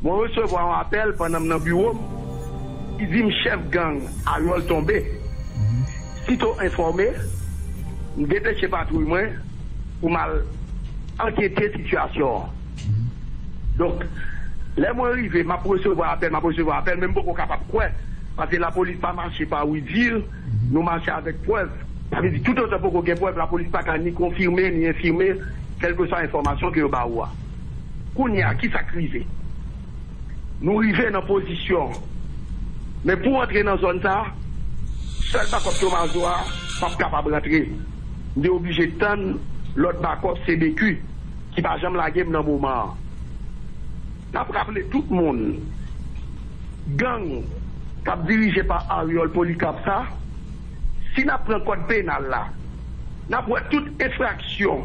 Mwen resevwa yon apèl pandan m nan biwo m ki di m chèf gang Harold tonbe. Sito enfòme, m depeche patwouy mwen pou m al ankete sitiyasyon an. Donk, lè mwen rive, m ap resevwa apèl, m ap resevwa apèl men m poko kapab kwè paske lapolis pa mache pa wi di, nou mache avèk prèv. Sa vle di toutotan poko gen prèv lapolis pa ka ni konfime ni enfime kèlkeswa enfòmasyon ke yo ba ou a. Kounye a, ki sa k rive? Nou rive nan pozisyon an. Men pou antre nan zòn sa a, sèl bakòp Tomazo a p ap kapab rantre. M te oblije tann lòt bakòp CBQ ki pa janm lage m nan moman an. N ap raple tout moun, gang k ap dirije pa Aryòl Polikarp sa, si n ap pran kòd penal la, n ap wè tout enfraksyon,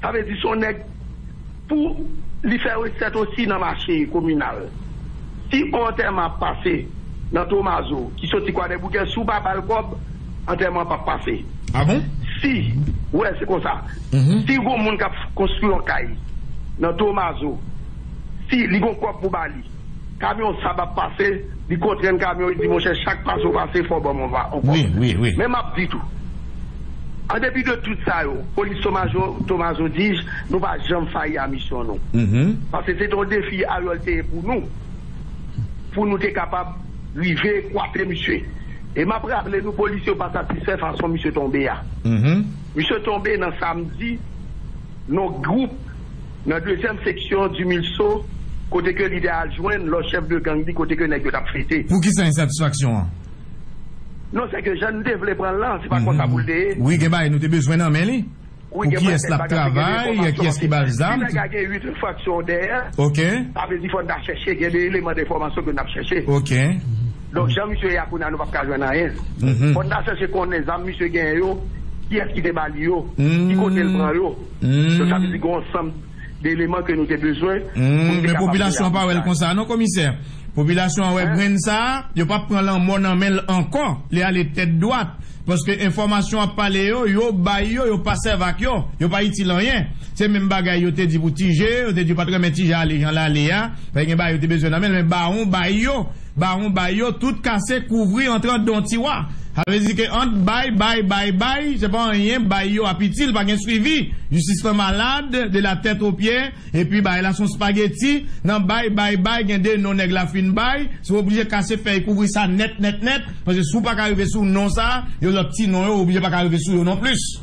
Sa vle di son nèg pou li fè resèt osi nan mache kominal. Si on antèman ap pase nan Tomazo ki soti Kwadèboukè si w pa ba l kòb, antèman an pap pase. A bon? Si, wè se konsa. Si gon moun k ap konstwi on kay nan Tomazo, si li gon kòb pou ba li. Kamyon sab ap pase li kontrenn kamyon li di monchè chak pase ou pase fò banm on va on kòb men map di tou an depi de tout sa yo polis tomajo tomazo dij nou pa janm fayi a misyon nou pase se te on defi ariol te ye pou nou pou nou te kapab rive kwape misye e map raple nou polis yo pa satisfè fason misye tonbe a misye tonbe nan samdi non group. Nan dezyèm seksyon di Milso kote ke lidè al jwenn lòt chèf de gang li kote ke nèg yo tap fete. Pou kisa ensatisfaksyon an? Non se ke jan n te vle pran l lan se pa konsa pou l te ye. Wi gen bagay nou te bezwen nan men li. Pou kiyès lap travay, kiyès ki bal zam. Si nèg la gen 8 enfraksyon dèyè. Ok. Sa vle di fò n ta chèche gen de eleman denfòmasyon ke nap chèche. Ok. Donk jan misye ye a kounye a nou pap ka jwenn anyen. Fò n ta chèche konnen zam misye genyen yo kiyès ki te ba li yo, ki kote l pran yo. Donk sa vle di gen yon ansanm de eleman ke nou te bezwen pou nou te kapab Men popilasyon an pa wè l konsa non komisè. Popilasyon an wè grenn sa a, yo pa p pran lanmò nan men l ankò, li ale tèt dwat. Paske enfòmasyon ap pale yo, yo bay yo, yo pa sèv ak yo, yo pa itil anyen. Se menm bagay yo te di pou Ti Je, yo te di yo pa t renmen Ti Je ale jan l ale a, paske gen bagay yo te bezwen nan men l, men bawon bay yo. Bawon bay yo tout kase kouvri antran don tiwa sa vle di ke ant bay bay bay bay se pa anyen bay yo ap itil pa gen swivi jistis lan malad de la tèt o pye epi bay la son spageti nan bay bay bay gen de non nèg la fin bay se w oblije kase fèy kouvri sa nèt nèt nèt paske si w pa ka rive sou non sa yo lòt ti non yo w oblije pa ka rive sou yo non plis.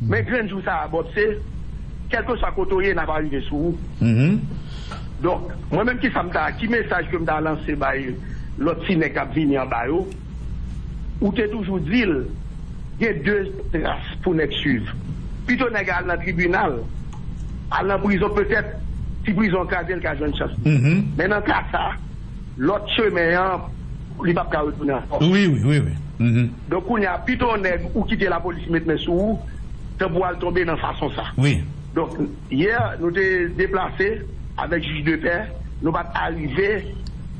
Men grenn jou sa a Bob se kèlkeswa kote w ye n ap arive sou ou donk mwen menm kisa m ta ki mesaj ke m ta lanse bay lòt ti nèg k ap vini anba yo ou te toujou di l gen de tras pou nèg swiv pito nèg a al nan tribinal al nan prizon petèt si prizon an kraze l ka jwenn chans li men nan ka sa lòt chemen an li p ap ka retounen ankò. Donk kounya pito on nèg ou kite la police met men sou ou tan pou al tonbe nan fason sa. Wi. Donk yè nou te deplase avèk jij de pè nou pat arive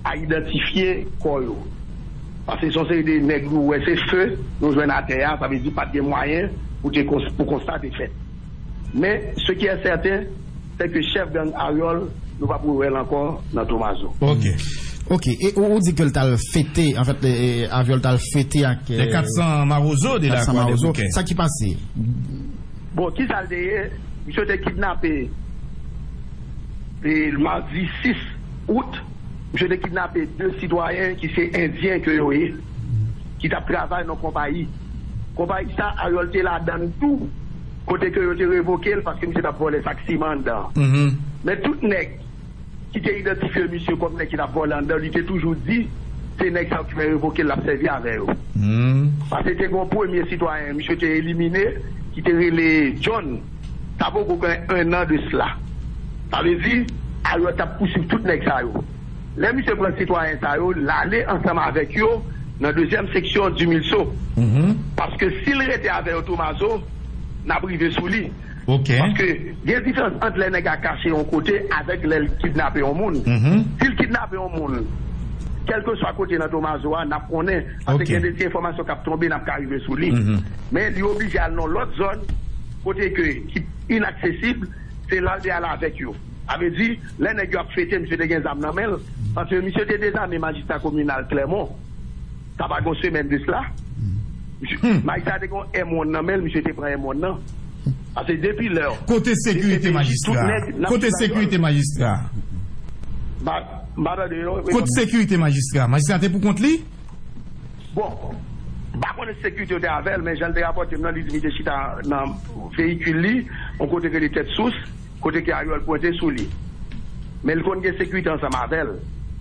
a idantifye kò yo. Pase son seri de nèg nou wè se feu nou jwenn atè a sa vle di pat gen mwayen pou te pou konsta te fèt. Men ce qui est certain. Se ke chef gang Ariol nou pap re wèl ankò nan tomazo. Ok ok e ou di ke l tal fete en fait Aviol tal fete ak. Les 400 marozo de la croix des bouquets. Sa ki pase? Bon kisa l te ye misye te kidnape e mardi 6 août misye te kidnape 2 sitwayen ki se endyen ke yo ye ki tap travay nan konpayi konpayi sa Ariol te ladann tou. Kote ke yo te revoke l paske misye t ap vòlè sak siman anndan an. Men tout nèg ki te idantifye misye kòm nèg ki t ap vòlè anndan, li te toujou di se nèg sa yo ki fè revoke l l ap sèvi avè yo. Pase te gen yon premye sitwayen misye te elimine ki te rele John, sa poko gen ennan de sla. Sa vle di Ariel t ap pousuiv tout nèg sa yo. Lè misye pran sitwayen sa yo, l ale ansanm avèk yo nan dezyèm seksyon Dumilso. Paske si l rete avè yo Tomazo, n ap rive sou li. Paske gen diferans ant lè nèg a kache yon kote avèk lè l kidnape yon moun. Si l kidnape yon moun, kèlkeswa kote nan Tomazo a, n ap konnen. Paske gen de ti enfòmasyon k ap tonbe, n ap ka rive sou li. Men li oblije al nan lòt zòn kote ke ki inaksesib, se la l te al avèk yo. Sa vle di, lè nèg yo ap fete misye te gen zam nan men l, paske misye te dezame majistra kominal Clermont, sa pa gen yon semèn de sla. Majistra a te gen yon M-one nan men l, misye te pran M-one nan. Pase depi lè. Kote sekirite majistra a? Kote sekirite majistra a? M pa tande non, reponn. Kot sekirite majistra a? Majistra a te pou kont li? Bon, m pa konnen si sekirite yo te avè l, men jan l te rapòte m nan, li di li te chita nan veyikil li, yon kote ki rele Tèt Sous. Kote ke Ariol pwente sou li. Men li konn gen sekirite ansanm avèl.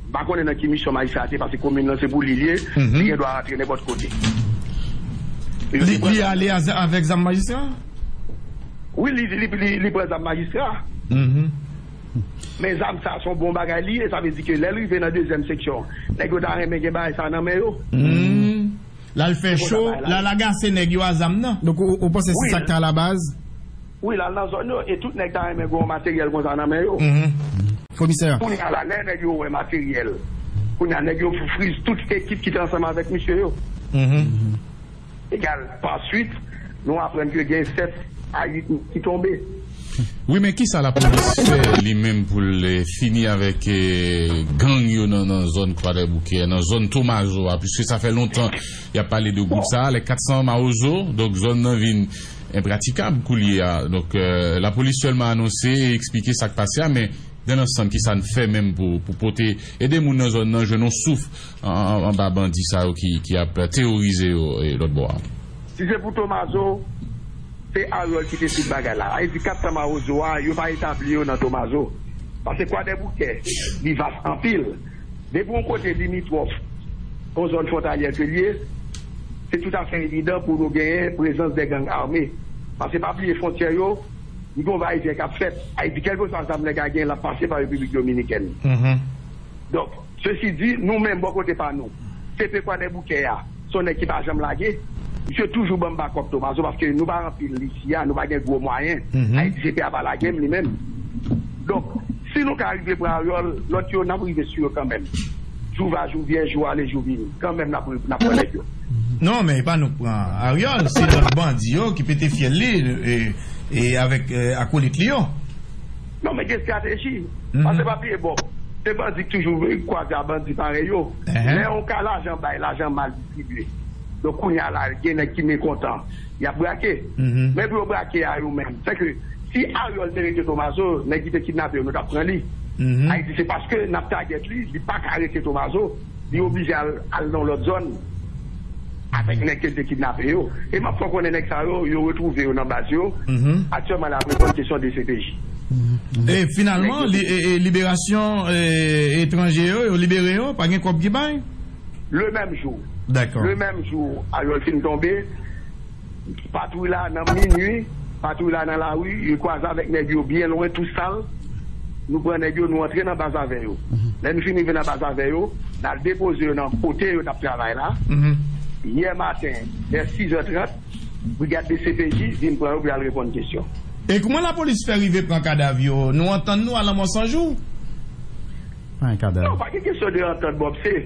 M pa konnen nan ki misyon majistra a te pase komin lan se pou li li ye, li gen dwa rantre nenpòt kote. Li ale avèk zam majistra? Wi li pran zam majistra. Men zam sa son bon bagay li ye sa vle di ke lèl rive nan dezyèm seksyon nèg yo ta renmen gen bagay sa nan men yo. Lal fè cho, lal agase nèg yo a zam nan. Donk ou panse se sak te ala baz? Wi lal nan zòn yo e tout nèg ta renmen gen yon materyèl konsa nan men yo. Komisè. Kounya la lè nèg yo wè materyèl, kounya nèg yo friz tout ekip ki te ansanm avèk misye yo. Egal, pa swit, nou aprann ke gen 7 a 8 moun ki tonbe. Wi men kisa la polis fè li menm poul fini avèk gang yo nan zòn kwadèboukè nan zòn tomazo a piske sa fè lontan yap pale de gwoup sa lè 400 mawozo donk zòn nan vin enpratikab koulye a donk la polis sèlman anonse e eksplike sak pase a men dan lansanm kisa n fè menm pou pote ede moun nan zòn nan jwenn yon souf anba bandi sa yo ki ap teworize yo lòtbò a. Si se pou Tomazo, se Ariol ki te tout bagay la. Ayiti 400 mawozo a, yo pa etabli yo nan Tomazo. Pase Kwadèboukè, li vas anpil. Depi yon kote limitwòf yon zòn fwontalyè ke li ye, se toutafè evidan pou nou genyen prezans de gang ame. Pase pa bliye fwontyè yo, li gen yon va e vyen k ap fèt. Ayiti, kèlkeswa zam nèg la genyen, l ap pase pa Repiblik Dominikèn. Donk. Sesi di, nou menm bò kote pa nou, CP Kwadèboukè a, se yon nèg ki pa janm lage. Misye toujou ban m bakòp Tomazo paske nou pa anpil isi a, nou pa gen gwo mwayen. Ayiti CP a pa lage m li menm. Donk, si nou ka rive pran Aryòl, lòt yo n ap rive sou yo kanmenm. Jou va jou vyen, jou ale jou vini. Kanmenm n ap n ap pran nèg yo. Non, men e pa nou k pran Aryòl, se lòt bandi yo ki pete fyèl li avèk akolit li yo. Non men gen strateji. Pase pa bliye Bob, se bandi ki toujou kwaze a bandi parèy yo. Lè yon ka lajan bay, lajan mal distribye. Donk kounya la gen nèg ki mekontan, y ap brake. Men pou yo brake a yo menm. Sèke si Ariol te rete Tomazo, nèg ki te kidnape yo, yo t ap pran li. Ayiti se paske n ap tagèt li, li pa ka rete Tomazo, li oblije al nan yon lòt zòn. avèk nèg ke l te kidnape yo. E m ap fè w konnen nèg sa yo, yo retwouve yo nan baz yo. Aktyèlman la ap reponn kesyon dcpj. E finalman, liberasyon etranje yo, yo libere yo? Pa gen kòb ki bay? Le menm jou. Dakò. Le menm jou, avyòl fin tonbe. Patwouy la nan minwi, patwouy la nan lari, yo kwaze avèk nèg yo byen lwen tou sal, nou pran nèg yo nou antre nan baz avè yo. Lè nou fin rive nan baz avè yo, n al depoze yo nan kote yo t ap travay la, yè maten vè 6 zè 30, brigad dcpj vin pran yo pou y al reponn kesyon. E kouman lapolis fè rive pran kadav yo? Nou antann nou a lanmò san jou? Non, pa gen kesyon de antant Bob, se.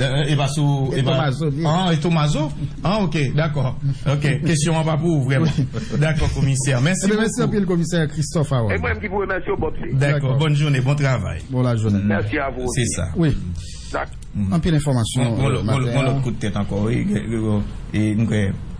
E pa sou E pa Tomazo li. An e Tomazo? An ok dakò ok kesyon an pa pou ou vrèman dakò komisè mèsi bokou. Mèsi anpil komisè Christophe Harold. E mwen menm ki pou remèsye w Bob se. Dakò bòn jounen bon travay. Bon la jounen. Mèsi a vou osi. Se sa. Wi. Anpil enfòmasyon maten an. Gon lòt kout tèt ankò wi. E m kwè.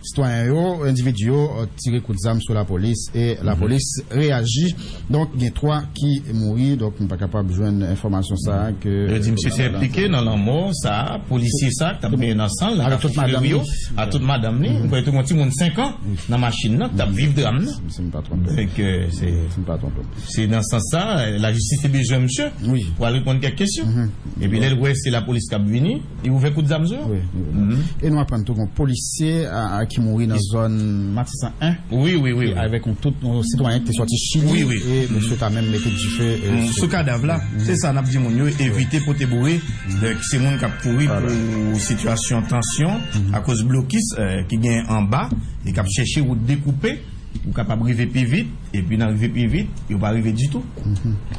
Sitwayen yo, endividi yo, tire kout zam sou lapolis e lapolis reyaji. Donk gen 3 ki mouri. Donk nou pa kapab jwenn enfòmasyon sa a ke Yo di misye te enplike nan lanmò sa a polisye sa a k t ap benyen nan san l nan kafe Filery yo ak tout madanm li. M kwè yo te gen yon timoun 5 an nan machin nan k t ap viv dram nan. Si m pa twonpe m. Se nan sans sa a lajistis te bezwen misye pou al reponn kèk kesyon. Epi lè l wè se lapolis k ap vini. Li ouvè kout zam sou yo? Wi, li ouvè. E nou aprann tou gen yon polisye ki mouri nan zòn Matisan 1. Wi, wi, wi. Avèk yon tout yon sitwayen ki te sòti Chili. Wi, wi. E misye ta menm mete dife. Sou kadav la. Se sa n ap di moun yo, evite pote boure. Donk se moun k ap kouri pou sitiyasyon tansyon akoz blokis ki gen anba e k ap chèche wout dekoupe. Ou kapab rive pi vit, epi nan rive pi vit, yo pa rive ditou.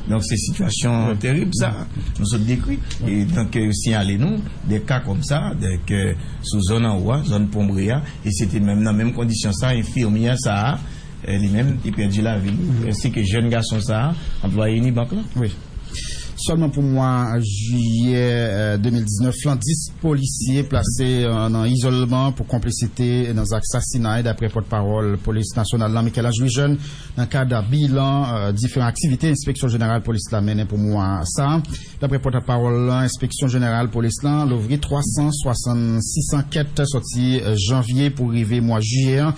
Donk se sitiyasyon terib sa a nou sot dekri. E donk yo siyale nou de ka kòm sa, donk sou zòn anwo a, zòn Pon Bre a, e se te menm nan menm kondisyon sa a enfimyè sa a li menm li pèdi lavi li, ensi ke jèn gason sa a, anplwaye Unibank lan. Sèlman pou mwa jiyè 2019 lan, 10 polisye plase nan izolman pou konplisite nan zak sasinay, daprè pòtpawòl polis nasyonal lan, Michel-Ange Louis-Jeune, nan kad bilan diferan aktivite enspeksyon jeneral polis la mennen pou mwa sa a. Daprè pòtapawòl lan, enspeksyon jeneral polis lan louvri 366 ankèt sòti janvye pou rive mwa jiyè an.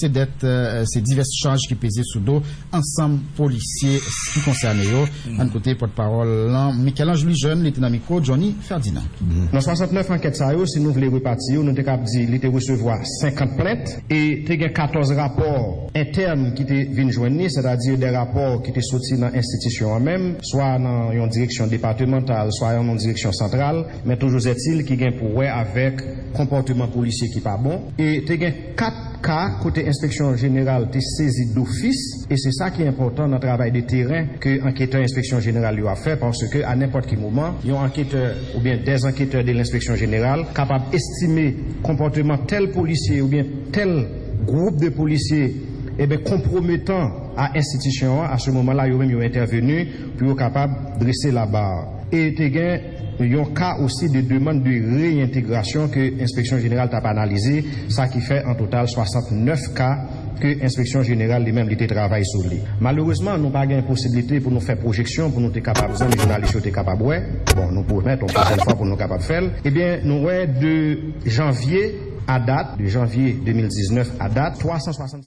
Se dèt, se divès chaj ki peze sou do ansanm polisye ki konsène yo. Ann koute pòtpawòl lan, Michel-Ange Louis Jeune, li te nan mikwo Johnny Ferdinand. Nan 69 ankèt sa yo, si nou vle repati yo, nou te kab di li te resevwa 50 plent e te gen 14 rapò entèn ki te vin jwenn ni, sètadi de rapò ki te soti nan enstitisyon an menm, swa nan yon direksyon depatemantal, swa nan yon direksyon santral, men toujouzetil ki gen pou wè avèk konpòteman polisye ki pa bon e te gen. 4 ka kote enspeksyon jeneral te sezi dofis e se sa ki enpòtan nan travay de teren ke anketè enspeksyon jeneral yo ap fè paske a nenpòt ki moman yon anketè oubyen des anketè de lenspeksyon jeneral kapab estime konpòteman tèl polisye oubyen tèl gwoup de polisye eben konpwometan a enstitisyon an a se moman la yo menm yo entèveni pou yo kapab drese la bar e te gen. yon ka osi de demand de reyentegrasyon ke enspeksyon jeneral tap analize, sa ki fè an total 69 ka ke enspeksyon jeneral li menm li te travay sou li. Malerezman nou pa gen posiblite pou nou fè pwojeksyon pou nou te kapab zanmi jounalis yo te kapab wè, bon nou pwomèt yon pwochèn fwa pou nou kapab fè l, ebyen nou wè de janvye a dat, de janvye 2019 a dat, 360.